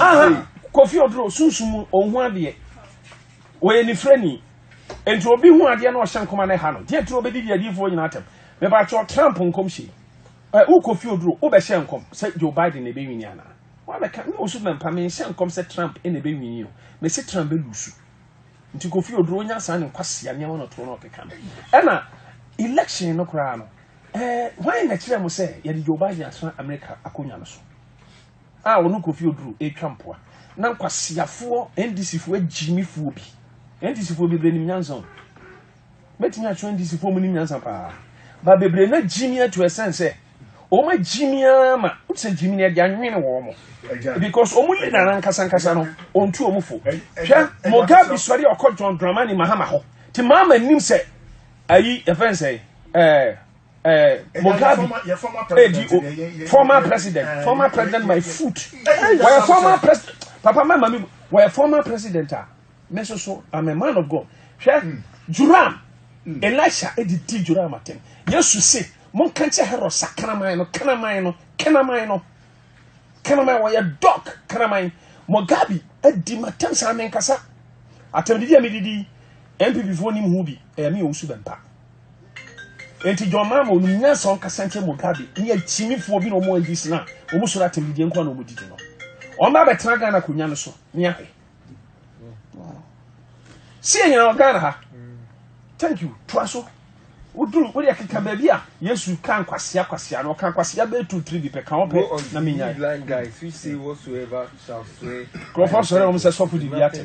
aha kofi oduro sunsun mu ohun adeɛ wɔyɛ nifirani nti obi hu adeɛ na ɔhyɛ nkɔma na ɛha no deɛ tiri obedi di adiifoɔ nyinaa tɛm mɛbakyɛw trump nkɔm hyɛ ɛ wo kofi oduro wobɛhyɛ nkɔm sɛ joe biden na ebe wini anaa wabɛka ne osu mɛmpa menhyɛ nkɔm sɛ trump na ebe wini o mɛsi trump bɛ lusu nti kofi oduro onya saa ne nkwasia nneɛma na ɔtoɔ na ɔkeka no ɛna election no koraa no ɛɛ hwan na kyerɛ mo sɛ yɛde joe biden asena america akonnwa no so. a ɔno Kofi Oduro retwa mpoa na nkwaseafoɔ NDCfoɔ agyimifoɔ bi, NDCfoɔ bebree nim nyansa o, mɛtumi akyerɛ NDCfoɔ mu nim nyansa paa, ba bebree na gyimi ato ɛsɛn sɛ wɔn agyimi ara ma wote sɛ gyimi no ɛde anwene wɔn mo because wɔn leader no ankasa ankasa no ɔntu wɔn fo hwɛ Mugabe sɔre ɔkɔ John Dramani Mahama hɔ te maama nim sɛ ayi ɛfɛn sɛ ɛɛ. Eh, Mugabe, eh, former president, eh, former president, former president, my foot. Why former president? Papa, my mommy, why former president? Ah, me so so, I'm a man of God. Hwɛ, hmm. Joram, hmm. Elisha, edi eh, di Joram atem. Yesu se, mon kanche hero sa kanaman no, kanaman no, kanaman no, kanaman why a dog, kanaman. Mugabe, edi eh, matem sa menkasa. Atem didi amididi, MPP fo ni muhubi, eh, mi osu bempa. Enti John Mahama onim nyansa ɔnkasa nkyerɛ Mugabe ne akyimifoɔ bi na wɔn NDC na wɔn soro atɛmdidie nko na wɔn didi no. Wɔn ba bɛtena Ghana akonnwa no so ne ahwɛ. Si yɛ nyina wɔ Ghana ha. Thank you. Toa so. Woduru wode akeka baabi a Yesu ka nkwasia kwasia no ɔka nkwasia bɛyɛ two three bi pɛ ka ɔpɛ na menyae. Nkurɔfoɔ sɔre wɔn sɛ sɔfo di bi atɛ.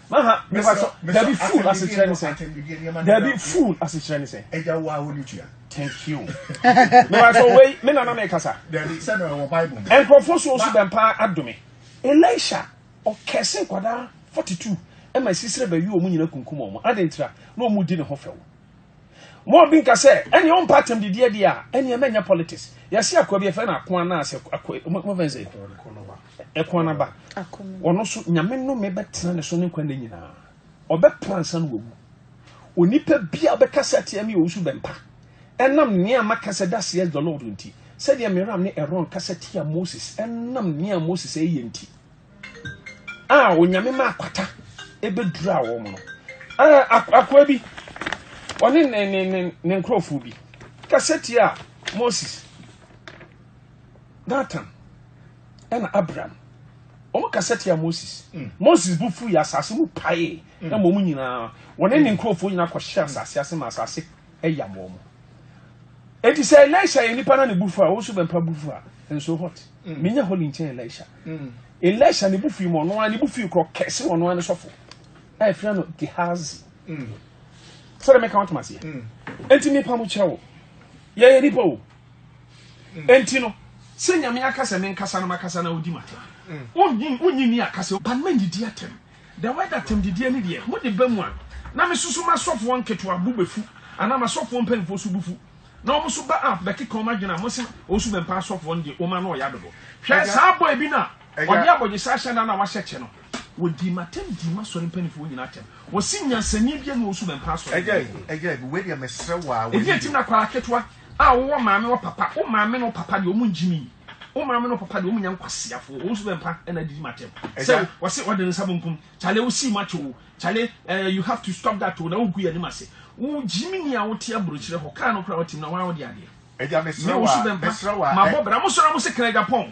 Aha, mepa kyɛ. Dabi, fool asekyerɛ ne sɛ. Dabi, fool asekyerɛ ne sɛ. Ɛgya wo a wo ne tua. Thank you. Mepa kyɛ wei, me nana na ɛkasa. Dabi, sɛ na ɛwɔ Bible mu. Nkurɔfoɔ so nso bɛn paa adome. Elisha, ɔkɛse nkwadaa 42 ɛma sisire bɛwe wɔn nyina kunkum wɔn ade ntira na wɔn di ne ho fɛw mo bi nka sɛ ɛnea ɔmpa atam didi adi a ɛnea mɛnyɛ politics yɛsi akoa bi ɛfɛ na akoa na asɛ akoa mo fɛn sɛ Ɛko no aba. Ɔno nso, Nyame nnome bɛtena ne so ne nkwa nna nyinaa. Ɔbɛpra ansa na wawu. Onipa bi a ɔbɛka sɛ atia me ɔwusu bɛmpa. Ɛnam nea maka sɛ thus says the Lord nti, sɛdeɛ Miriam ne Aaron kasa tia Moses, ɛnam nea Moses ɛyɛ nti, a Onyame ma akwata ɛbɛdura wɔn no. Akoa bi, ɔne ne nkurɔfoɔ bi kasa tia Moses. Datan ɛna Abiram wɔn kasa tia Moses mm. Moses bu fu yɛ asase mu pae mm. ɛma wɔn nyinaa wɔne ne mm. nkurɔfoɔ nyinaa kɔhyɛ asase ase ma asase ɛyam wɔn eti sɛ Elisha yɛ nipa na ne bu fu a wɔn nso bɛn pa bu fu a nso hot menya hɔ ne nkyɛn Elisha Elisha ne bu fu yi mu ɔno ara ne bu fu yi korɔ kɛse ɔno ara ne sɔfo a yɛfrɛ no Gehazi sɛdeɛ meka wɔn to ma seɛ eti nipa mo kyerɛ wo yɛyɛ nipa o. mm. enti no sɛ nyame aka sɛ menkasa no makasa na wodi matena mm. wonyi wonyi ni akasa ba no manyidi atɛm da wɛda atɛm didiɛ ne deɛ mode ba mu a na mesusu masɔfoɔ nketewa bo bɛfu anaa masɔfoɔ mpanimfoɔ so bufu na wɔn nso ba a bɛkeka wɔn adwene a wɔsi wɔn so bɛmpa asɔfoɔ no deɛ wɔn ano ɔyɛ adodo hwɛ saa bɔ ebi na ɔde abɔgyesa ahyɛ na na wahyɛ kyɛ no wɔdi ma tɛm di ma sɔre mpanimfoɔ wɔn nyinaa tɛm wɔsi nyansani bi na wɔn so bɛmpa asɔre ɛgya ɛgya ebi wei deɛ mɛsrɛ waa wei ebi etim na kwara ketewa A wo wɔ maame wɔ papa wo maame ne wo papa deɛ ɔmo ngyimi wo maame ne wo papa deɛ ɔmo nyɛ nkwaseafoɔ wɔn nso bɛ mpa ɛna adidi mu atɛm sɛ wɔsi ɔde nsa benkum kyale wo sii mu atwo wo kyale ɛɛ eh, you have to stop that o na wogu yɛ anim ase wo gyimi ni a wote aburokyerɛ hɔ kaa no kora wɔte mu na wɔn a wɔde adeɛ ɛgya mesrɛ wa mesrɛ wa mabɔ bra mo sɔrɔ mo se kra ɛgya pɔn